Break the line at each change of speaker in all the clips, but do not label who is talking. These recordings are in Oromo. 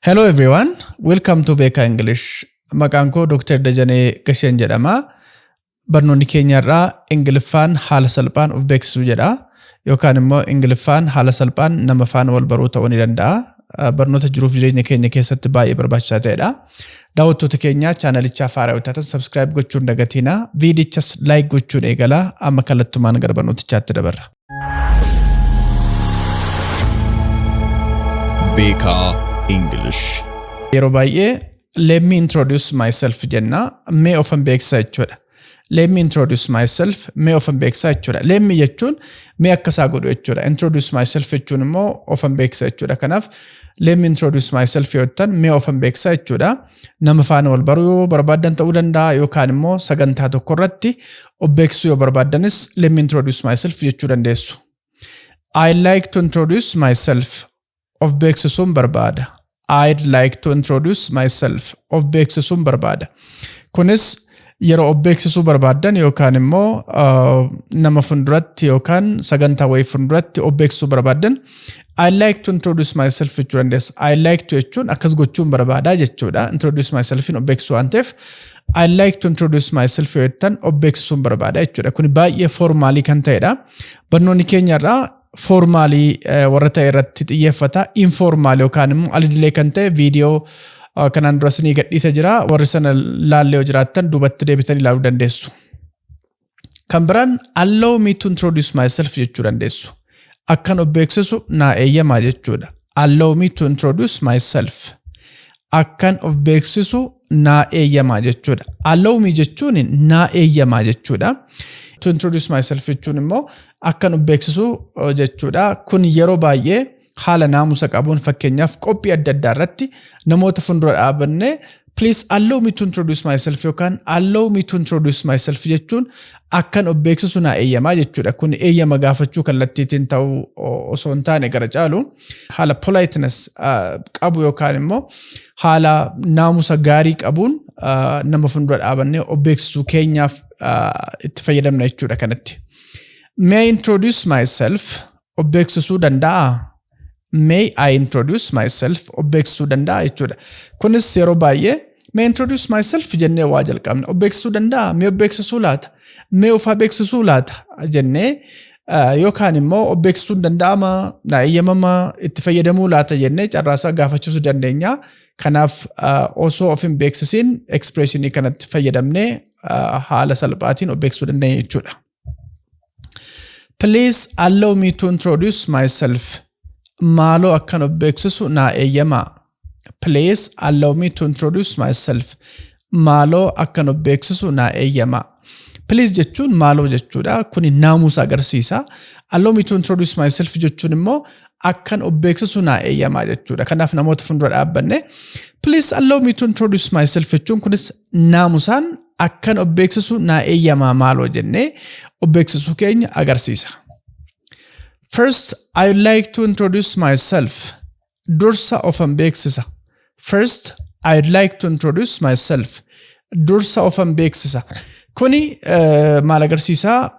Hello everyone, welcome to Beekaa English. Maqaan koo Dr. Dajanee Gasheen jedhama. Barnoonni keenya irraa Ingiliffaan haala salphaan of beeksisuu jedha. Yookaan immoo Ingiliffaan haala salphaan nama faana wal baruu ta'uu ni danda'a. Uh, Barnoota jiruuf jireenya keenya keessatti baay'ee barbaachisaa ta'edha. Daawwattoota keenya chaanalichaa faaraa yoo taatan subscribe gochuun dagatiina. Viidichas like gochuun eegala. Amma kallattumaan gara barnootichaatti dabarra.
Beekaa English. Yeroo
baay'ee let me introduce myself jenna mee ofan beeksisa jechuudha. Let me introduce myself mee ofan beeksisa jechuudha. Let me jechuun mee akka isaa godhu jechuudha. Introduce myself jechuun immoo ofan beeksisa jechuudha. Kanaaf let me introduce myself yoo jettan mee ofan beeksisa jechuudha. Nama faana wal baruu yoo barbaaddan ta'uu danda'a yookaan immoo sagantaa tokko irratti of beeksisuu yoo barbaaddanis let me introduce myself jechuu dandeessu. I'd like to introduce myself. Of beeksisuun barbaada. I'd like to introduce myself. Of beeksisuun barbaada. Kunis yeroo of beeksisuu barbaaddan yookaan immoo nama funduratti yookaan sagantaa wayii funduratti of beeksisuu barbaaddan I like to introduce myself jechuu dandeessu. I like to jechuun akkas gochuun barbaadaa jechuudha. Introduce myself of beeksisuu waan ta'eef I like to introduce myself yoo jettan of beeksisuun barbaada jechuudha. Kun baay'ee foormaalii kan ta'edha. Barnoonni keenya irraa foormaalii warra ta'e irratti xiyyeeffata. Infoormaal yookaan immoo alidilee kan ta'e viidiyoo kanaan dura isinii gadhiisa jira. Warri sana laallee yoo jiraattan duubatti deebitan ilaaluu dandeessu. Kan biraan allow me to introduce myself jechuu dandeessu. Akkan of beeksisu naa eeyyamaa jechuudha. Allow me to introduce myself. akkan of beeksisu naa eeyyamaa jechuudha. Allow me jechuun naa eeyyamaa jechuudha. To introduce myself jechuun immoo akkan of beeksisu eh, jechuudha. Kun yeroo baay'ee haala naamusa qabuun fakkeenyaaf qophii adda addaa irratti namoota fuuldura dhaabannee please allow me to introduce myself yookaan allow me to introduce myself jechuun akkan of beeksisu naa eeyyamaa jechuudha. Kun eeyyama gaafachuu kallattiitiin ta'uu osoo hin taane gara caalu haala politeness qabu yookaan immoo haala naamusa gaarii qabuun nama fuuldura dhaabannee of beeksisuu keenyaaf itti fayyadamna jechuudha kanatti. May I introduce myself? of beeksisuu danda'aa? May I introduce myself? Of beeksisuu danda'aa jechuudha. Kunis yeroo baay'ee may I introduce myself jennee waa jalqabna. Of beeksisuu danda'aa? Mee of beeksisuu laata? Mee of haa beeksisuu laata? jennee ah, yookaan immoo of beeksisuun danda'ama, na eeyyamama, itti fayyadamuu laata jennee carraasaa gaafachiisuu dandeenya. Kanaaf ah, osoo of hin beeksisiin expressionii kanatti fayyadamnee ah, haala salphaatiin of beeksisuu dandeenya jechuudha. Please allow me to introduce myself. Maaloo akkan of beeksisu naa eeyyamaa. Please allow me to introduce myself. Maaloo akkan of beeksisu naa eeyyamaa. Please jechuun maaloo jechuudha. Kuni naamusa agarsiisa. Allow me to introduce myself jechuun immoo akkan of beeksisu naa eeyyamaa jechuudha. Kanaaf namoota fuuldura dhaabbanne please allow me to introduce myself jechuun kunis naamusaan akkan of beeksisu naa eeyyamaa maaloo jennee of beeksisuu keenya agarsiisa. First, I would like to introduce myself. Dursa ofan beeksisa. First, I would like to introduce myself. Dursa ofan beeksisa. Kuni eh, maal agarsiisaa?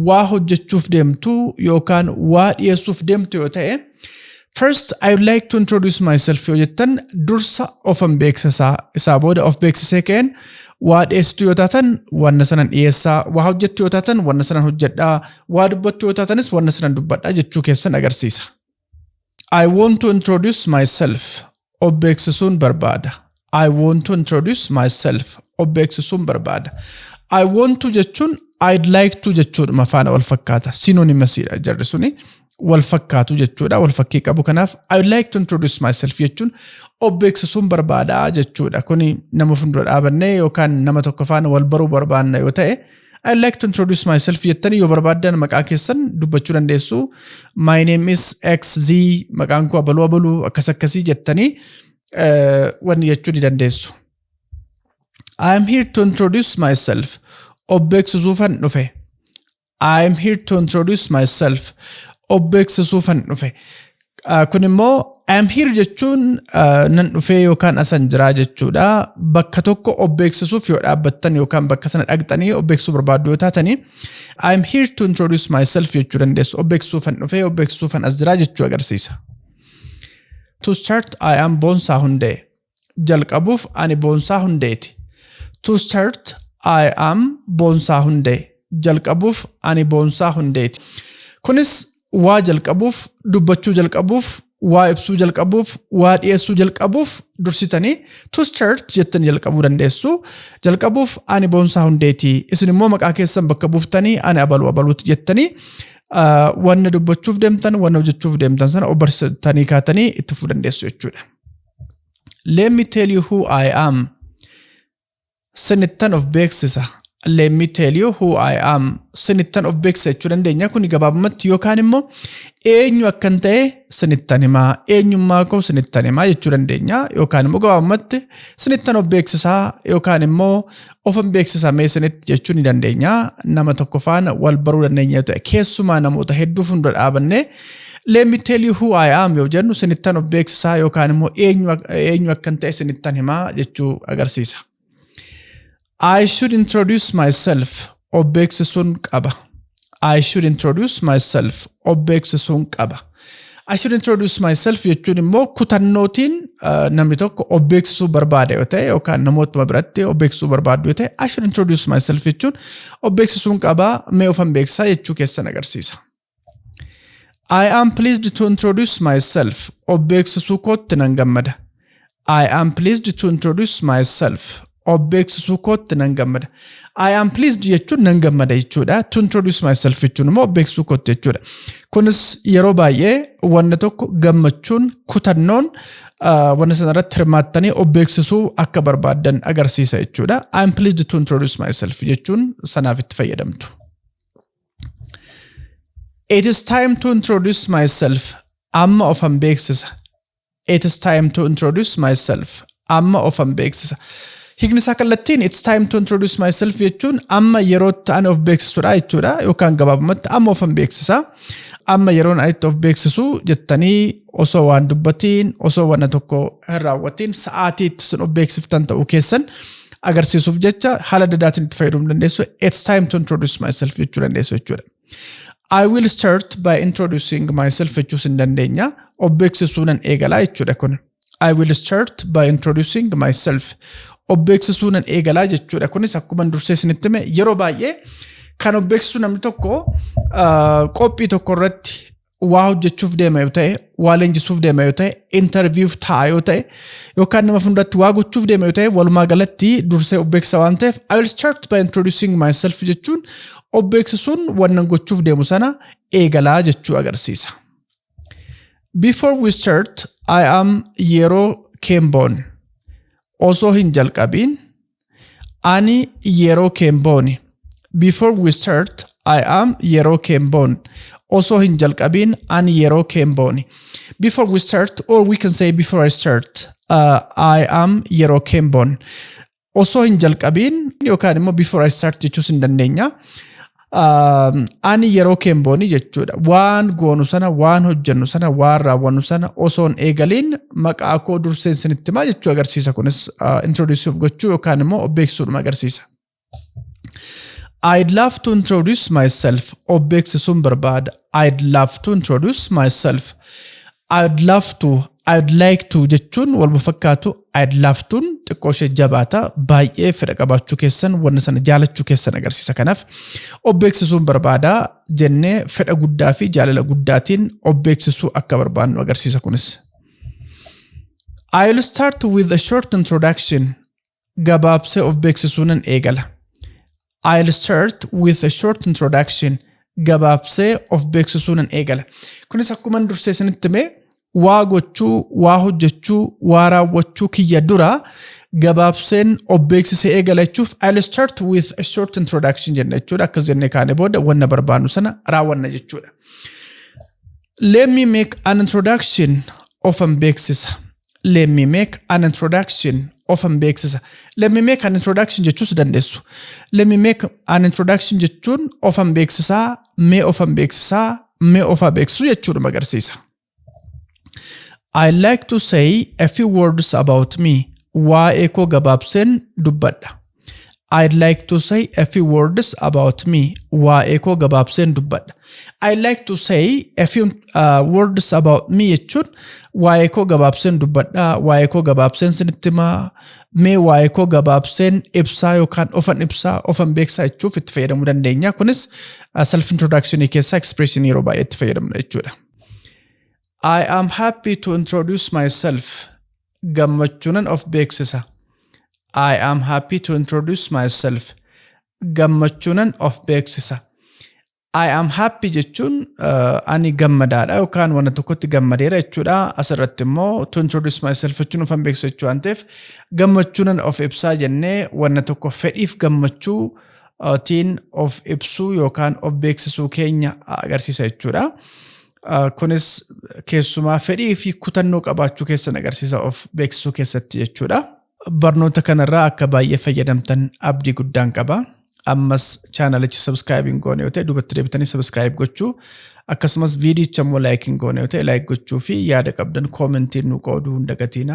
Waa hojjechuuf deemtu yookaan waa dhiyeessuuf deemtu yoo ta'e First, I would like to introduce myself yoo jettan dursa ofan beeksisaa isaa booda of beeksisee ka'een waa dhiyeessitu yoo taatan wanna sanan dhiyeessaa waa hojjettu yoo taatan wanna sanan hojjedhaa waa dubbattu yoo taatanis wanna sanan dubbadhaa jechuu keessan agarsiisa. I want to introduce myself of beeksisuun barbaada. I want to introduce myself. Of beeksisuun barbaada. I want to jechuun I'd like to jechuudhuma faana wal fakkaata. Sinonimasiidha jarri suni. Wal fakkaatu jechuudha. Wal fakkii qabu kanaaf I'd like to introduce myself jechuun of beeksisuun barbaada jechuudha. Kuni nama fuuldura dhaabannee yookaan nama tokko faana wal baruu barbaanna yoo ta'e I like to introduce myself jettanii yoo barbaaddan maqaa keessan dubbachuu dandeessu. My name is XZ maqaan koo abaluu abaluu akkas akkasii jettanii eh, wanni jechuu ni dandeessu. I am here to introduce myself. Of beeksisuufan dhufe. I am here to introduce myself. Of beeksisuufan dhufe. Ah, Kun immoo I am here jechuun ah, nan dhufee yookaan asan jiraa jechuudha. Bakka tokko of beeksisuuf yoo dhaabbattan yookaan bakka sana dhaqxanii of beeksisuu barbaaddu yoo taatanii I am here to introduce myself jechuu dandeessu. Of beeksisuufan dhufee of beeksisuufan as jiraa jechuu agarsiisa. To start I am Boonsaa Hundee. Jalqabuuf ani Boonsaa Hundeeti. To start, I am Boonsaa Hundee. Jalqabuuf ani Boonsaa Hundeeti. Kunis waa jalqabuuf, dubbachuu jalqabuuf, waa ibsuu jalqabuuf, waa dhiyeessuu jalqabuuf dursitanii to start jettanii jalqabuu dandeessu. Jalqabuuf ani Boonsaa Hundeeti. Isin immoo maqaa keessan bakka buuftanii ani abaluu abaluuti jettanii ah, wanna dubbachuuf deemtan, wanna hojjechuuf deemtan sana obbarsitanii kaatanii itti fufuu dandeessu jechuudha. Let me tell you who I am. Sinittan of beeksisa. Let me tell you who I am. Sinittan of beeksisa jechuu dandeenya. Kuni gabaabumatti yookaan immoo eenyu akkan ta'e sinittan himaa, eenyummaa koo sinittan himaa jechuu dandeenya. Yookaan immoo gabaabumatti sinittan of beeksisaa yookaan immoo ofin beeksisa mee isinitti jechuu ni dandeenya. Nama tokko faana wal baruu dandeenya ta'e keessumaa namoota hedduu fuuldura dhaabannee let me tell you who I am yoo jennu isinittan of beeksisaa yookaan immoo eenyu ak- eenyu akkan ta'e isinittan himaa jechuu agarsiisa. I should introduce myself of beeksisuun qaba. I should introduce myself of beeksisuun qaba. I should introduce myself jechuun immoo kutannootiin uh, namni tokko of beeksisuu barbaada yoo ta'e yookaan namootuma biratti of beeksisuu barbaadu yoo ta'e I should introduce myself jechuun of beeksisuun qabaa mee ofan beeksisaa jechuu keessan agarsiisa. I am pleased to introduce myself of beeksisuu kootti nan gammada. I am pleased to introduce myself. Of beeksisuu kootti nan gammada. I am pleased jechuun nan gammada jechuudha. To introduce myself jechuun immoo of beeksisuu kootti jechuudha. Kunis yeroo baay'ee wanna tokko gammachuun kutannoon ah, wanna sana irratti hirmaattanii of beeksisuu akka barbaaddan agarsiisa jechuudha. I am pleased to introduce myself jechuun sanaaf itti fayyadamtu. It is time to introduce myself. Amma ofan beeksisa. It's time to introduce myself. Amma ofan beeksisa. Hiikni isaa kallattiin it's time to introduce myself jechuun amma yerootti ani of beeksisudha jechuudha yookaan gabaabumatti amma ofan beeksisa. Amma yeroon ani itti of beeksisu jettanii osoo waan dubbatiin osoo wanna tokko hin raawwatiin sa'aatii itti sun of beeksiftan ta'uu keessan agarsiisuuf jecha haala dadaatiin itti fayyadamuu dandeessu. It's time to introduce myself jechuu dandeessu jechuudha. I will start by introducing myself jechuus hin dandeenya. Of beeksisuunan eegalaa jechuudha kun. I will start by introducing myself. Of beeksisuunan eegalaa jechuudha kunis akkuma dursee isinitti hime yeroo baay'ee kan of beeksisu namni tokko qophii tokko irratti waa hojjechuuf deema yoo ta'e, waa leenjisuuf deema yoo ta'e, intarviiyuuf ta'a yoo ta'e, yookaan nama fuulduratti waa gochuuf deema yoo ta'e, walumaa galatti dursee of beeksisa waan ta'eef, I will start by introducing myself jechuun of beeksisuun wannan gochuuf deemu sana eegalaa jechuu agarsiisa. Before we start, I am yeroo Kemboon osoo hin jalqabiin Ani yeroo keen boone. Before we start, I am yeroo keen boone. Osoo hin jalqabiin ani yeroo keen boone. Before we start or we can say before I start, uh, I am yeroo keen boone. Osoo hin jalqabiin yookaan immoo before I start jechuus hin dandeenya. Ani yeroo keenboonii jechuudha. Waan goonu sana, waan hojjennu sana, waan raawwannu sana osoon eegaliin maqaa koo durseen sinitti himaa jechuu agarsiisa. Kunis introduce'uuf gochuu yookaan immoo of beeksisuudhuma agarsiisa. I'd love to introduce myself. Of beeksisuun barbaada. I'd love to introduce myself. I'd love to, I'd like to jechuun walma fakkaatu I'd love to'n xiqqoo ishee jabaata baay'ee fedha qabaachuu keessan wanna sana jaalachuu keessan agarsiisa kanaaf of beeksisuun barbaada jennee fedha guddaa fi jaalala guddaatiin of beeksisuu akka barbaannu agarsiisa kunis. I'll start with a short introduction gabaabsee of beeksisuunan eegala. I'll start with a short introduction. Gabaabsee of beeksisuu nan eegala. Kunis akkuma dursee isinitti hime waa gochuu, waa hojjechuu, waa raawwachuu kiyya dura gabaabseen of beeksisee eegala jechuuf I'll start with a short introduction jenna jechuudha. Akkas jennee kaane booda wanna barbaannu sana raawwanna jechuudha. Let me make an introduction ofan beeksisa. let me make an introduction ofan beeksisa let me make an introduction jechuus dandeessu let me make an introduction jechuun ofan beeksisaa mee ofan beeksisaa mee ofaa beeksisuu jechuudhuma agarsiisa I like to say a few words about me waa'ee koo gabaabseen dubbadha I'd like to say a few words about me. Waa'ee koo gabaabseen dubbadha. I'd like to say a few uh, words about me jechuun waa'ee koo gabaabseen dubbadha, waa'ee koo gabaabseen sinitti himaa, mee waa'ee koo gabaabseen ibsaa yookaan ofan ibsaa, ofan beeksisaa jechuuf itti fayyadamuu dandeenya. Kunis uh, self introduction keessaa expression yeroo baay'ee itti fayyadamna jechuudha. I am happy to introduce myself. gammachuunan of beeksisa. I am happy to introduce myself. Gammachuunan of beeksisa. I am happy jechuun uh, ani gammadaadha yookaan wanta tokkotti gammadeera jechuudha. Asirratti immoo to introduce myself jechuun ufan beeksisa jechuu waan ta'eef gammachuunan of ibsaa jennee wanta tokko fedhiif gammachuu uh, tiin of ibsuu yookaan of beeksisuu keenya agarsiisa jechuudha. Kunis keessumaa fedhii fi kutannoo qabaachuu keessan agarsiisa of beeksisuu keessatti jechuudha. Barnoota kanarraa akka baay'ee fayyadamtan abdii guddaan qaba. Ammas chaanalicha subscribe hin goone yoo ta'e duubatti deebitanii subscribe gochuu akkasumas viidiyicha immoo like hin goone yoo ta'e like gochuu fi yaada qabdan koomentiin nu qooduu hin dagatiina.